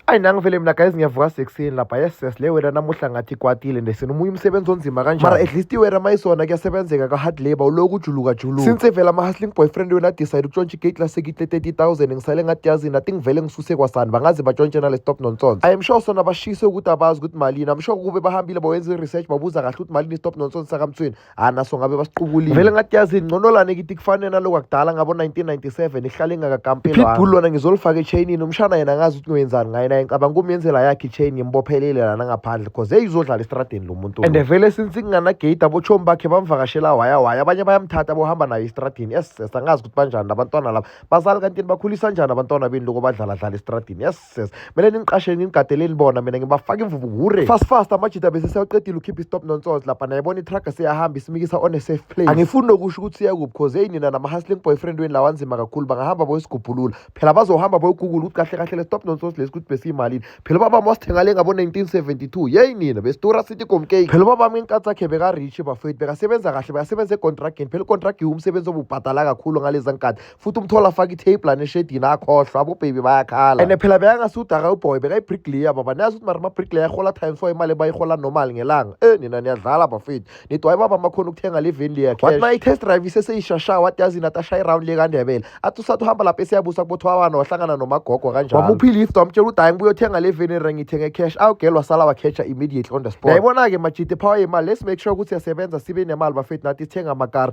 ayi nangivele mina guys ngiyavuka sekuseni lapha yes yes le wera namuhla ngathi ikwatile ndesini omunye umsebenzi onzima kanjani mara at least iwera mayisona kuyasebenzeka ka-hard labor uloku ujuluka juluka since evela ama-hustling boyfriend wena decide ukutshontsha igate lasekitle 30000 ngisale ngathi yazini athi ngivele ngisuse kwasani bangaze batshontshe nale stop nonsense i am sure sona bashise ukuthi abazi ukuthi malini am sure kube bahambile bawenza i-research babuza kahle ukuthi malini stop nonsense sakamthweni hayi naso ngabe basiqukulile vele ngathi yazi ngconolane kithi kufanele naloko akudala ngabo-1997 ihlale ingakakampelwapitbull lona ngizolifaka echayinini umshana yena ngazi ukuthi ngiwenzani ngaye naye ngicabanga kumyenzela yakhe ichain ngimbophelele lana ngaphandle cause eyi uzodlala estradeni lo muntu and vele since kunganagate abotshomi bakhe bamvakashela waya waya abanye bayamthatha bohamba naye estradini yes yes angazi ukuthi banjani labantwana laba bazali kanti bakhulisa njani abantwana beni loko badlaladlala estradini yes says mele ningiqashele nginigadeleni bona mina ngibafaka imvubu ngure fast fast amajita bese sewaqedile ukhipha istop nonsoz lapha naye bona itruck siyahamba isimikisa on a safe place angifuni nokusho ukuthi siya kuphi cause hey nina nama hustling boyfriend weni lawa nzima kakhulu bangahamba boyisigubhulula phela bazohamba boyigugula ukuthi kahle kahle le stop nonsoz lesi ukuthi besiyimalini phela ubaba wami wasithenga le ngabo 1972 yey nina besitora city gomcake phela ubaba wami inkathi yakhe beka rich bafethu bekasebenza kahle bekasebenza econtragini phela icontrag iwumsebenzi obubhadala kakhulu ngaleza nkathi futhi umthola afaka itape lana eshedini akhohlwa abobhebi bayakhala and phela bekangasudaga uboy bekayibricklayer baba niyazi ukuthi mara amabricklayer ahola times four imali bayihola normal ngelanga e nina niyadlala bafethu nidwa ibaba makhona ukuthenga le veni leya wathi ma i-test drive iseseyishasha wathi yazi nathi ashaye iround le kandebele athi usathi uhamba lapho esiyabusa kubothwawana wahlangana nomagogo kanjalo wamuphi lift wamtshela ukuthi hayi ngibuye uthenga le veni ra ngithenge cash awugela wasala wakhetsha immediately on the spot yayibona-ke majide phawa yemali let's make sure ukuthi siyasebenza sibe nemali bafethu nathi sithenga amakara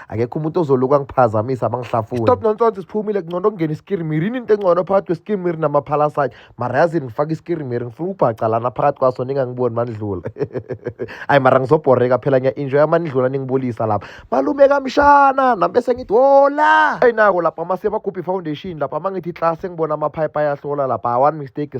akekho umuntu ozoluka ngiphazamisa abangihlafuni stop nonsense siphumile kungcono kungena iskirimiri yini into engcono phakathi kwesikirimiri namaphalaside mara yazini ngifake iskirimiri ngifuna ukubhaca lana phakathi kwaso ningangiboni manidlula ayi mara ngizobhoreka phela ngiya-enjoya manidlula ningibulisa lapha malume kamshana nami bese ngithi wola eyi nako lapha mase bagubhi foundation lapha uma ngithi class engibona amaphayiphi ayahlola lapha one mistake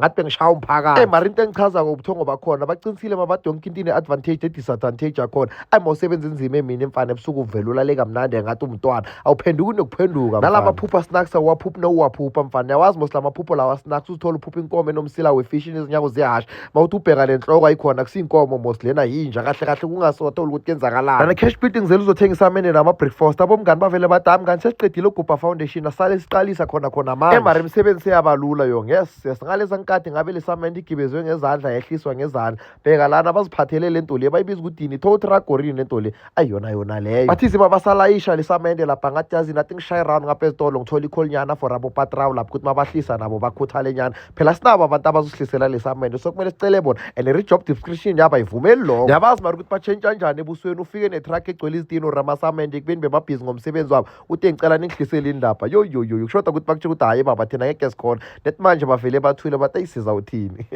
ngathi bengishaya umphakathi mara into engichazako ubuthongo bakhona baqinisile mabade yonke into ine-advantage ne-disadvantage yakhona ayi mawusebenza inzima emini emfana ebusuku uvele ulale kamnandi engathi umntwana awuphenduki nokuphenduka nalamaphupha snacks awaphuphi nowuwaphupha mfana yawazi mos la maphupho lawa snacks uzithola uphupha inkomo enomsila wefishi nezinyako zehasha mawuthi ubheka le nhloko ayikhona kusiyinkomo mos lena yinja kahle kahle kungasothola ukuthi kenzakalani nana cash building zele uzothengisa amene nama-breakfast abomngani bavele badami kanti sesiqedile ugubha foundation thina sale siqalisa khona khona manje emara imisebenzi seyabalula yo yes yes ngalesa nkathi ngabe lesamende igibezwe ngezandla yehliswa ngezandla bheka lana baziphathele le nto le bayibiza ukudini tow tragorini le nto le ayiyona yona leyo bathi ziba basalayisha lesamende lapha ngathi yazi nathi ngishaye round ngapha ezitolo ngithola ikholinyana for abopatrawu lapho ukuthi mabahlisa nabo bakhuthale nyana phela sinabo abantu abazosihlisela lesamende so kumele sicele bona and re-job description yabo ayivumeli lokho yabazi mari ukuthi batshentsha njani ebusweni ufike netruck egcwele izitini or amasamende ekubeni bebabhizi ngomsebenzi wabo uthe ngicela ningihlisele indaba yoyoyoyo kushoda ukuthi bakutshela ukuthi hhayi baba thina ngeke sikhona nethi manje bavele bathule bathi ayisiza uthini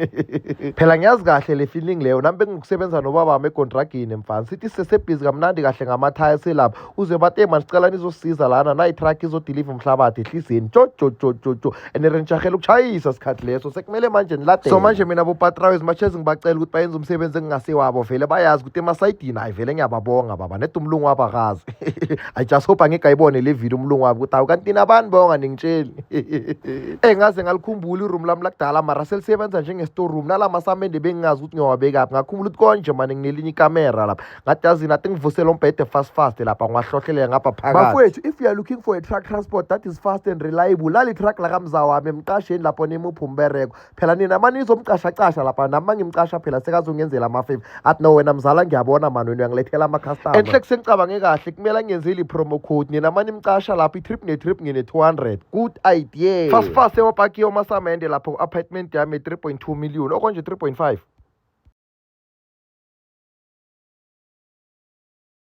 phela ngiyazi kahle le feeling leyo nami bengikusebenza nobabami egontragini mfana sithi sesebhizi kamnandi kahle ngamathaya selapha uze bathi ey manicela nizosiza lana nayitruck izodiliva umhlabathi ehlizeni jojojojojo and rentshahela ukushayisa sikhathi leso sekumele manje niladele so manje mina bopatrawe zimashezi ngibacela ukuthi bayenze umsebenzi engingasewabo vele bayazi ukuthi emasayidini hayi vele ngiyababonga baba nedumlungu wabakazi I just hope angigayibone le video umlungu wami ukuthi awu kanti nabani bonga ningitsheli engaze eh, ngalikhumbula iroom lami lakudala mara selisebenza njenge-store room nala masamende bengingazi ukuthi ngiyowabekaphi ngakhumbula ukuthi konje mane nginelinye ikamera lapha ngathi yazini athi ngivusele umbhede fast fast lapha ngiwahlohlelela ngapha phakathi bafowethu if you are looking for a truck transport that is fast and reliable lali truck lakamza wami emqasheni lapho nimuphi umbereko phela nina mani nizomcashacasha lapha nami mangimcasha phela sekazongenzela amafave athi no wena mzala ngiyabona mani wena uyangilethela amacustomer enhle kusengicabange kahle kumele ngenzile i-promo code nina mani nimcasha lapho i-trip ne-trip ngine-200 good idea fast fast ewapaki yomasamende lapho ku-apartment yami 3.2 million okonje 3.5